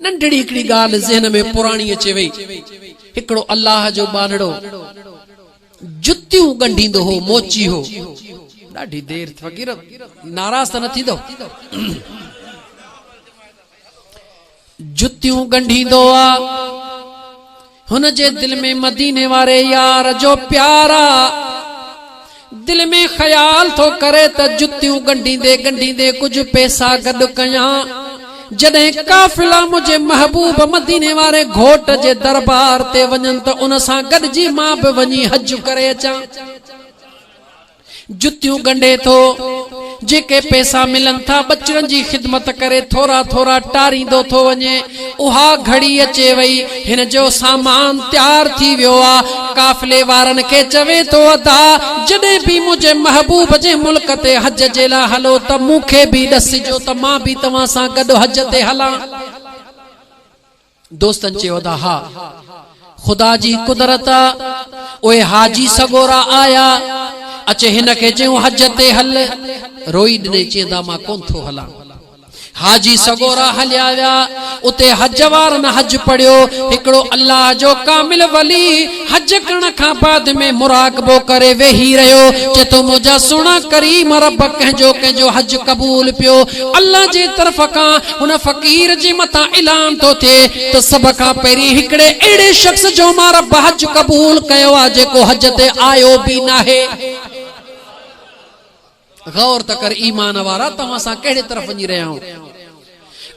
ننڍڙي هڪڙي ڳالهه ذهن ۾ پراڻي اچي وئي. هڪڙو الله جو ٻانهڙو جتيون ڳنڍيندو هو، موچي هو. ڏاڍي دير ٿي فقير ناراض ته نه ٿيندؤ. جتيون ڳنڍيندو آ. هن جي دل ۾ مديني واري يار جو پيار آ. دل ۾ خيال ٿو ڪري ته جتيون ڳنڍيندي ڳنڍيندي ڪجهه پئسا گڏ ڪيان. جڏهن قافلا منهنجي محبوب مديني واري گهوٽ جي دربار تي وڃن ته ان سان گڏجي مان به وڃي حج ڪري اچان. جتيون ڳنڍي ٿو، جيڪي پئسا ملن ٿا، ٻچڙن جي خدمت ڪري ٿورا ٿورا ٽاريندو ٿو وڃي. اها گهڙي اچي وئي، هن جو سامان تيار ٿي ويو آ. قافلي وارن کي چوي ٿو ادا! جڏهن به منهنجي محبوب جي ملڪ تي حج جي لاء هلو ته مون کي به ڏسجو ته مان به توهان سان گڏ حج تي هلان. دوستن چيو ته ها، خدا جي قدرت آ، اهي حاجي سڳورا آيا، اچي هن کي چيون حج تي هل، روئي ڏني چين ته مان ڪونه ٿو هلان. حاجي سڳورا هليا ويا، اتي حج وارن حج پڙهيو، هڪڙو الله جو ڪامل ولي، حج ڪرڻ کان بعد ۾ مراقبو ڪري ويهي رهيو چي ٿو منهنجا سهڻا ڪريم رب ڪنهن جو ڪنهن جو حج قبول پيو الله جي طرف کان هن فقير جي مٿان اعلان ٿو ٿئي ته سڀ کان پهرين هڪڙي اهڙي شخص جو مان رب حج قبول ڪيو آهي جيڪو حج تي آيو به ناهي. غور ته ڪر ايمان وارا ته اسان ڪهڙي طرف وڃي رهيا آهيون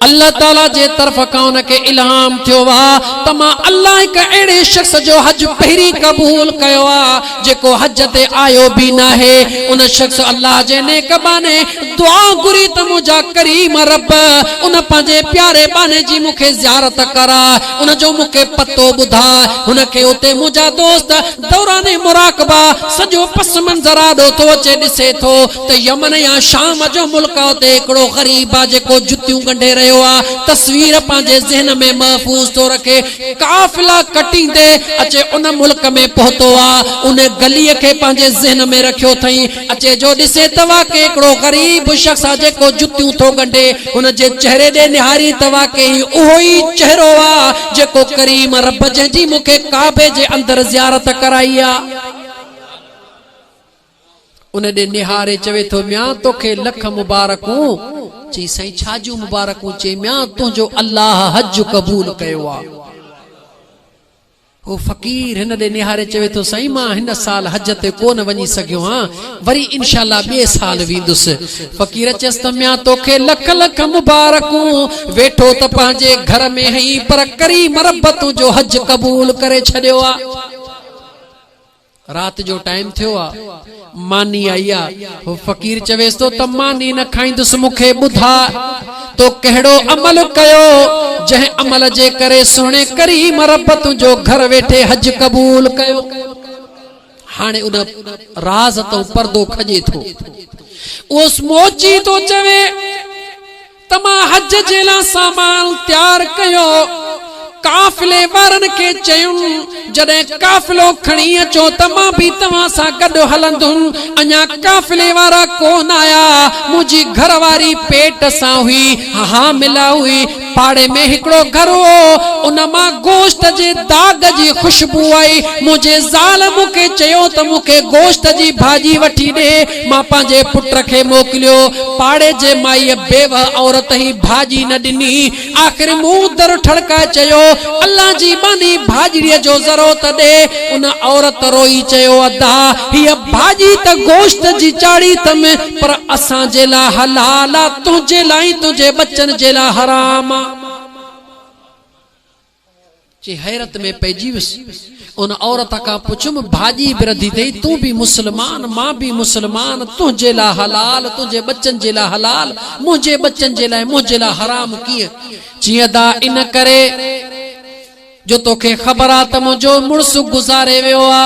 الله تعالي جي طرف کان ان کي الهام ٿيو آ ته مان الله هڪ اهڙي شخص جو حج پهرين قبول ڪيو آ جيڪو حج تي آيو به ناهي ان شخص الله جي نيڪ ٻانهي دعا گهري ته منهنجا ڪريم رب ان پنهنجي پياري ٻانهي جي مون کي زيارت ڪراء ان جو مون کي پتو ٻڌاء هن کي اتي منهنجا دوست دوران مراقبه سڄو پس منظر آڏو ٿو اچي ڏسي ٿو ته يمن يا شام جو ملڪ آ اتي هڪڙو غريب آ جيڪو جتيون ڳنڍي رهيو آ تصوير پنهنجي ذهن ۾ محفوظ ٿو رکي قافلا ڪٽيندي اچي ان ملڪ ۾ پهتو آ ان گلي کي پنهنجي ذهن ۾ رکيو ٿئين اچي جو ڏسي ته واقعي هڪڙو غريب شخص آ جيڪو جتيون ٿو ڳنڍي. هن جي چهري ڏي نهارين ته واقعي هي اهو ئي چهرو آ جيڪو ڪريم رب جنهن جي مون کي ڪعبي جي اندر زيارت ڪرائي آ. ان ڏي نهاري چوي ٿو ميان توکي لک مبارڪون. چئي سائين ڇا جون مبارڪون؟ چئي ميان تنهنجو الله حج قبول ڪيو آ. هو فقير هن ڏي نهاري چوي ٿو سائين مان هن سال حج تي ڪونه وڃي سگهيو هان وري انشاء الله ٻئي سال ويندس فقير چيس ته ميان توکي لک لک مبارڪون ويٺو ته پنهنجي گهر ۾ هئين پر ڪري مربتون جو حج قبول ڪري ڇڏيو آ. رات جو ٽائيم ٿيو آ، ماني آئي آ. هو فقير چويس ٿو ته ماني نه کائيندس، مون کي ٻڌاء تو ڪهڙو عمل ڪيو، جنهن عمل جي ڪري سهڻي ڪريم رب تنهنجو گهر ويٺي حج قبول ڪيو. هاڻي ان راز تئون پردو کڄي ٿو. اهو سموچي ٿو چوي. ته مان حج جي لاء سامان تيار ڪيو. قافلي وارن کي چيم، جڏهن قافلو کڻي اچو ته مان به توهان سان گڏ هلندم. اڃا قافلي وارا ڪو نه آيا. منهنجي گهر واري پيٽ سان هئي، حامله هئي. پاڙي ۾ هڪڙو گهر هو، ان مان گوشت جي داغ جي خوشبو آئي. منهنجي زال مون کي چيو ته مون کي گوشت جي ڀاڄي وٺي ڏي. مان پنهنجي پٽ کي موڪليو. پاڙي جي مائيء بيوهه عورت هي ڀاڄي نه ڏني. آخر مون در ٺڙڪائي چيو، الله جي ٻانهي ڀاڄڙيء جو ذرو ته ڏي. ان عورت روئي چيو، ادا، هيء ڀاڄي ته گوشت جي چاڙهي اٿم، پر اسان جي لاء حلال آ، تنهنجي لاء ۽ تنهنجي ٻچن جي لاء حرام آ. چي حيرت ۾ پئجي ويس. ان عورت کان پڇيم، ڀاڄي به رڌي اٿئي، تون به مسلمان، مان به مسلمان، تنهنجي لاء حلال، تنهنجي ٻچن جي لاء حلال، منهنجي ٻچن جي لاء، منهنجي لاء حرام ڪيئن؟ چي ادا ان ڪري جو توکي خبر آ ته منهنجو مڙس گذاري ويو آ.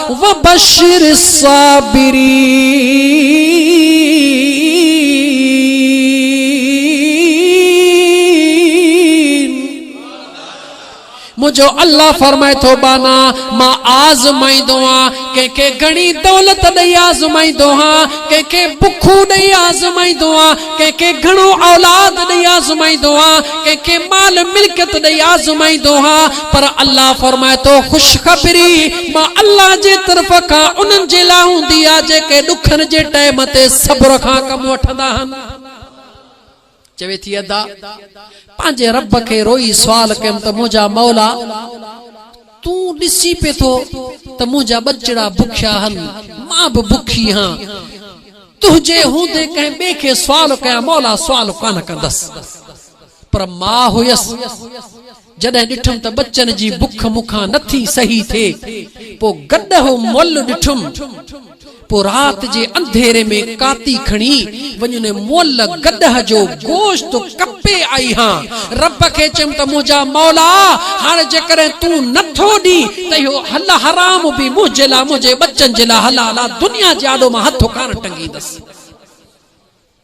وبشر الصابرين منهنجو الله فرمائي ٿو ٻانها مان آزمائيندو آهيان ڪنهن کي گهڻي دولت ڏئي آزمائيندو آهيان ڪنهن کي بک ڏئي آزمائيندو آهيان ڪنهن کي گهڻو اولاد ڏئي آزمائيندو آهيان ڪنهن کي مال ملڪيت ڏئي آزمائيندو آهيان پر الله فرمائي ٿو، خوشخبري مان الله جي طرف کان انهن جي لاء هوندي آهي جيڪي ڏکن جي ٽئم تي صبر کان ڪم وٺندا آهن. چوي ٿي ادا پنهنجي رب کي روئي سوال ڪيم ته منهنجا مولا تون ڏسين پئي ٿو ته منهنجا ٻچڙا بکيا آهن مان به بکي هان تنهنجي هوندي ڪنهن ٻئي کي سوال ڪيان مولا سوال ڪانه ڪندس پر مان هيس جڏهن ڏٺم ته ٻچن جي بک مون کان نه ٿي سهي ٿئي، پوء گڏهو مئل ڏٺم. پوء رات جي انڌيري ۾ ڪاتي کڻي وڃي ان مئل گڏهه جو گوشت ڪپي آئي هان. رب کي چيم ته منهنجا مولا! هاڻ جيڪڏهن تون نه ٿو ڏين ته اهو حل حرام به منهنجي لاء منهنجي ٻچن جي لاء حلال آ، دنيا جي آڏو مان هٿ ڪانه ٽنگيندس.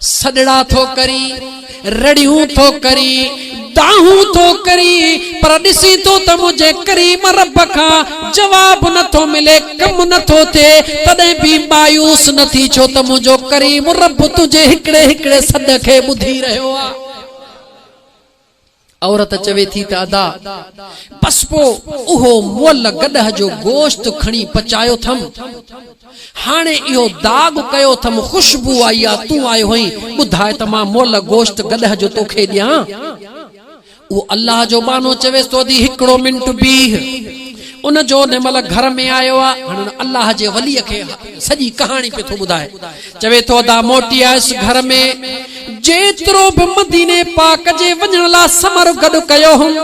سڏڙا ٿو ڪري، رڙيون ٿو ڪري، دانهون ٿو ڪري، پر ڏسين ٿو ته منهنجي ڪريم رب کان جواب نه ٿو ملي، ڪم نه ٿو ٿئي، تڏهن به مايوس نه ٿي، ڇو ته منهنجو ڪريم رب تنهنجي هڪڙي هڪڙي سڏ کي ٻڌي رهيو آهي. عورت چوي ٿي ته ادا! بس پوء اهو مئل گڏهه جو گوشت کڻي پچايو ٿم. هاڻي اهو داغ ڪيو ٿم، خوشبو آئي آ، تون آيو هئين، ٻڌاء ته مان مئل گوشت گڏهه جو توکي ڏيان؟ اهو الله جو ٻانهو چويس ته ادي هڪڙو منٽ بيهه. ان جو ان مئل گهر ۾ آيو آ، هاڻي ان الله جي وليء کي سڄي ڪهاڻي پيو ٿو ٻڌائي چوي ٿو ادا موٽي آيس گهر ۾ جيترو به مديني پاڪ جي وڃڻ لا ثمر گڏ ڪيو هوم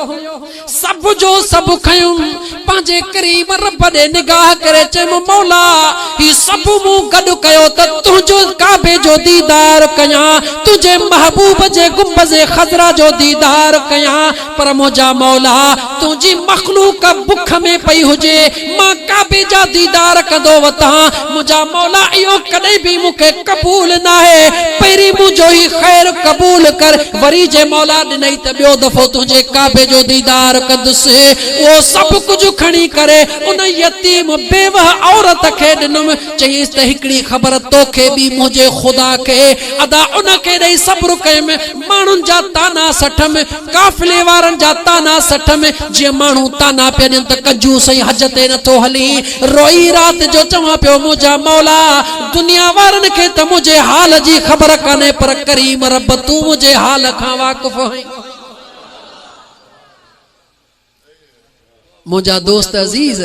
سڀ جو سڀ کنيم پنهنجي ڪريم رب ڏي نگاهه ڪري چيم مولا هي سڀ مون گڏ ڪيو ته تنهنجو ڪعبي جو ديدار ڪيان تنهنجي محبوب جي گنبذ خضرا جو ديدار ڪيان پر منهنجا مولا! تنهنجي مخلوق بک ۾ پئي هجي، مان ڪعبي جا ديدار ڪندو وتان، منهنجا مولا! اهو ڪڏهن به مون کي قبول ناهي، پهرين منهنجو هي خير قبول ڪر، وري جي مولا ڏنئي ته ٻيو دفعو تنهنجي ڪعبي جو ديدار ڪندس. اهو سڀ ڪجهه کڻي ڪري ان يتيم بيوهه عورت کي ڏنم، چيس ته هڪڙي خبر توکي ٻي منهنجي خدا کي، ادا ان کي ڏئي صبر ڪيم، ماڻهن جا طعنا سٺم، قافلي وارن جا طعنا سٺم، جيئن ماڻهو طعنا پيا ڏين ته ڪنجوس ۽ حج تي نه ٿو هلين. روئي رات جو چوان پيو منهنجا مولا! دنيا وارن کي ته منهنجي حال جي خبر ڪانهي پر ڪريم رب تون منهنجي حال کان واقف آهين. منهنجا دوست عزيز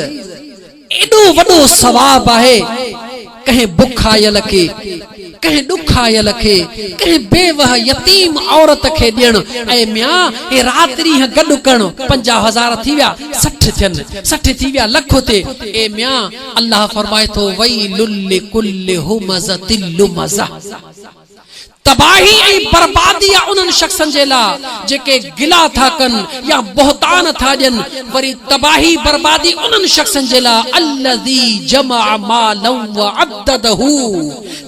ايڏو وڏو ثواب آهي ڪنهن بکايل کي ڪنهن ڏکايل کي ڪنهن بيوه يتيم عورت کي ڏيڻ اي ميان هي رات ڏينهن گڏ ڪرڻ پنجاهه هزار ٿي ويا سٺ ٿين سٺ ٿي ويا لک ٿئي اي ميان الله فرمائي ٿو ويل لڪل همزة لمزة تباهي ۽ بربادي آهي انهن شخصن جي لاء جيڪي گلا ٿا ڪن يا بهتان ٿا ڏين، وري تباهي بربادي انهن شخصن جي لاء الذي جمع مالا وعدده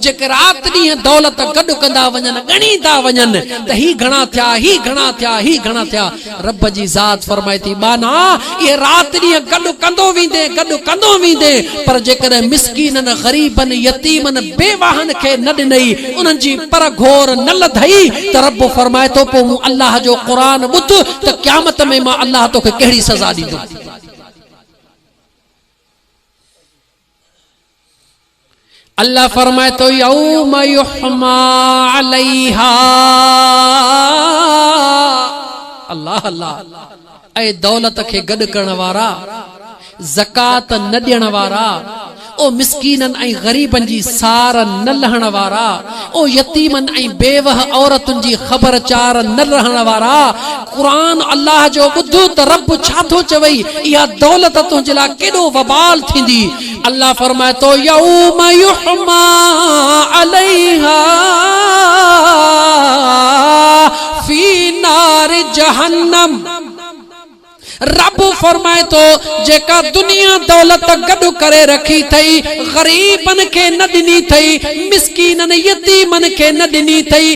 جيڪي رات ڏينهن دولت گڏ ڪندا وڃن، ڳڻيندا وڃن ته هي گهڻا ٿيا، هي گهڻا ٿيا، هي گهڻا ٿيا. رب جي ذات فرمائي ٿي، ٻانها، اهي رات ڏينهن گڏ ڪندو ويندين، گڏ ڪندو ويندين، پر جيڪڏهن مسڪينن، غريبن، يتيمن، بيواهن کي نه ڏنئي، انهن جي پر گهور نه لڌئي ته رب فرمائي ٿو، پوء مون الله جو قرآن ٻڌ ته قيامت ۾ مان الله توکي ڪهڙي سزا ڏيندم. الله فرمائي ٿو يوم يحمى عليها الله الله اي دولت کي گڏ ڪرڻ وارا زڪات نه ڏيڻ وارا او مسڪينن ۽ غريبن جي سار نه لهڻ وارا او يتيمن ۽ بيوه عورتن جي خبر چار نه رهڻ وارا! قرآن الله جو ٻڌ ته رب ڇا ٿو چوي، اها دولت تنهنجي لاء ڪيڏو وبال ٿيندي. الله فرمائي ٿو، يوم يحميٰ عليها في نار جهنم. رب فرمائي ٿو، جيڪا دنيا دولت گڏ ڪري رکي ٿئي، غريبن کي نه ڏني ٿئي، مسڪينن، يتيمن کي نه ڏني ٿئي،